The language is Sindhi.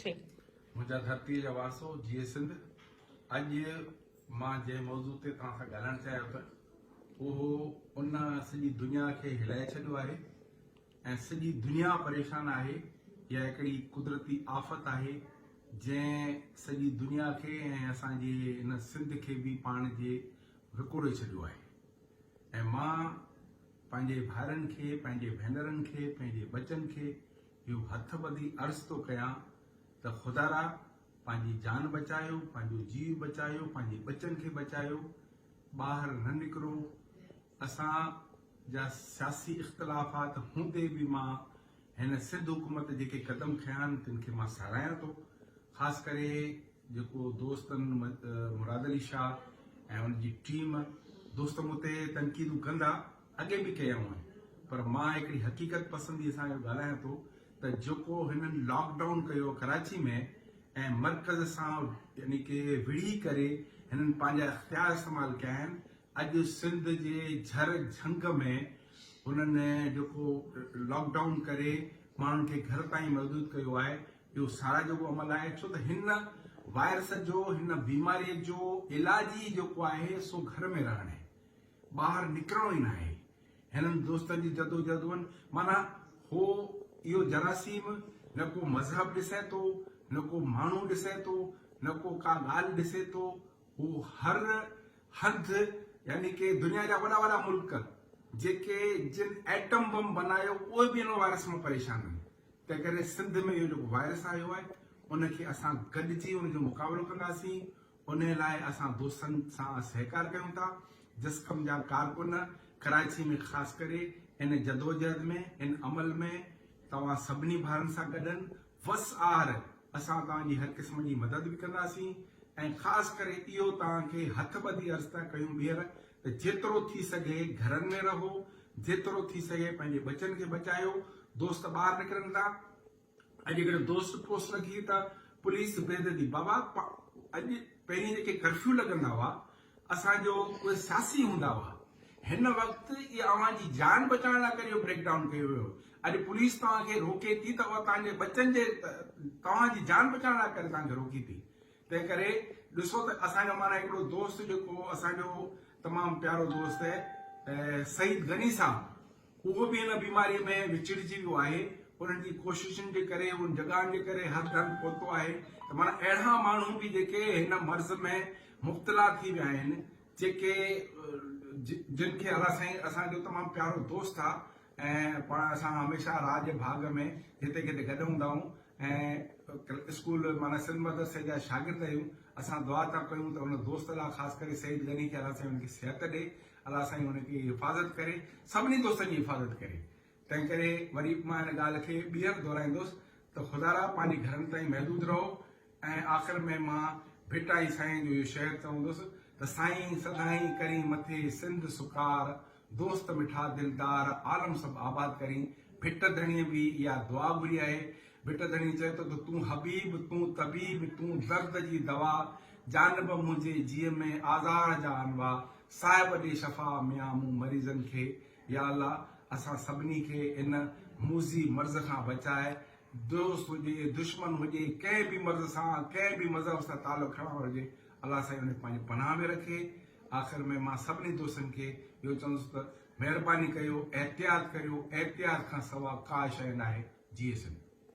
ٿي. منهنجا ڌرتيء جا وارثو، جيئي سنڌ! اڄ مان جنهن موضوع تي توهان سان ڳالهائڻ چاهيان ٿو، اهو ان سڄي دنيا کي هلائي ڇڏيو آهي ۽ سڄي دنيا پريشان آهي. اها هڪڙي قدرتي آفت آهي، جنهن سڄي دنيا کي ۽ اسان جي هن سنڌ کي به پاڻ جي وڪوڙي ڇڏيو آهي ۽ مان پنهنجي ڀائرن کي، پنهنجي ڀينرن کي، پنهنجي ٻچن کي، اهو هٿ ٻڌي عرض ٿو ڪيان ته خدارا پنهنجي جان بچايو، پنهنجو جيء بچايو، پنهنجي ٻچن کي بچايو، ٻاهر نه نڪرو، اسان جا سياسي اختلافات هوندي به مان هن سنڌ حڪومت جيڪي قدم کنيا آهن تن کي مان ساراهيان ٿو، خاص ڪري جيڪو دوستن مراد علي شاهه ۽ ان جي ٽيم دوست مون تي تنقيدون ڪندا اڳي به ڪيا هئائين پر مان هڪڙي حقيقت پسندي سان اهو ڳالهايان ٿو ته جيڪو هنن لاڪ ڊائون ڪيو ڪراچي ۾ ۽ مرڪز سان يعني ڪي وڙهي ڪري هنن پنهنجا اختيار استعمال ڪيا آهن اڄ سنڌ جي جھر جھنگ ۾ هنن جيڪو لاڪ ڊائون ڪري ماڻهن کي گھر تائين محدود ڪيو آهي اهو سارا جيڪو عمل آهي ڇو ته هن وائرس جو هن بيماري جو علاج ئي جيڪو آهي سو گھر ۾ رهڻ آهي ٻاهر نڪرڻو ئي ناهي. هنن دوستن جي جدوجهد هئن. معنيٰ هو اهو جراثيم نه ڪو مذهب ڏسي ٿو، نه ڪو ماڻهو ڏسي ٿو، نه ڪو ڪا ڳالهه ڏسي ٿو. هو هر هنڌ يعني ڪي دنيا جا وڏا وڏا ملڪ جيڪي جن ايٽم بم بنايو اهي به هن وائرس مان پريشان آهن. تنهن ڪري سنڌ ۾ اهو جيڪو وائرس آيو آهي ان کي اسان گڏجي ان جو مقابلو ڪنداسين، انهيء لاء اسان دوستن سان سهڪار ڪيون ٿا. جسقم جا ڪارڪن ڪراچي ۾ خاص ڪري ان جدوجهد ۾ ان عمل ۾ توهان سڀني ڀائرن سان گڏن. وس آهر اسان توهان جي هر قسم جي مدد به ڪنداسين ۽ خاص ڪري اهو توهان کي هٿ ٻڌي عرض ٿا ڪيون ٻيهر ته جيترو ٿي سگهي گهرن ۾ رهو، جيترو ٿي سگهي پنهنجي ٻچن کي بچايو، دوست ٻاهر نڪرن ٿا، اڄ هڪڙي دوست پوسٽ رکي هئي ته پوليس بيدردي بابا اڄ پهرين جيڪي ڪرفيو لڳندا هئا اسان جو اهي ساسي هوندا هئا هن وقت اهي اوهان جي جان بچائڻ لاء ڪري اهو بريڪ ڊائون ڪيو ويو اڄ پوليس توهان کي روڪي ٿي ته اها توهان جي ٻچن جي توهان جي جان بچائڻ لاء ڪري توهان کي روڪي ٿي تنهن ڪري ڏسو ته اسان جو مانا هڪڙو دوست جيڪو اسان جو تمام پيارو دوست سعيد غني صاحب هو به ان بيماريء ۾ وچڙجي ويو آهي. انهن جي ڪوششن جي ڪري، انهن جڳهن جي ڪري هر ڌڻ پهتو آهي ته معنيٰ اهڙا ماڻهو به جيڪي هن مرض ۾ مبتلا ٿي ويا آهن، جيڪي جن کي الله سائين اسان جو تمام پيارو دوست آ ۽ پاڻ اسان هميشه راهه جي ڀاڳ ۾ جتي ڪٿي گڏ هوندا آهيون ۽ اسڪول معنيٰ سنڌ مدرسي جا شاگرد آهيون، اسان دعا ٿا ڪيون ته ان دوست لاء خاص ڪري سيد غني کي الله سائين ان کي صحت ڏي الله سائين ان جي حفاظت ڪري سڀني دوستن جي حفاظت ڪري تنهن ڪري وري مان ان ڳالهه کي ٻيهر دهرائيندس ته خدارا پنهنجي گهرن تائين محدود رهو ۽ آخر ۾ مان ڀٽائي سائين جو اهو شعر چوندس ته سائين سدائين ڪرين مٿي سنڌ سڪار دوست مٺا دلدار عالم سڀ آباد ڪرين ڀٽ ڌڻيء به اها دعا گهري آهي ڀٽ ڌڻي چئي ٿو ته تون حبيب، تون طبيب، تون درد جي دوا، جانب منهنجي جيء ۾ آزار جا انواع، صاحب ڏي شفا ميان مون مريضن کي، يا الله اسان سڀني کي ان موذي مرض کان بچاء، دوست هجي دشمن هجي ڪنهن به مرض سان ڪنهن به مذهب سان تعلق کڻڻ وارو هجي الله سائين ان کي پنهنجي پناهه ۾ رکي، آخر ۾ مان سڀني دوستن کي اهو چوندس ته مهرباني ڪيو احتياط ڪريو احتياط کان سوا ڪا شئي ناهي جيئي سنڌ.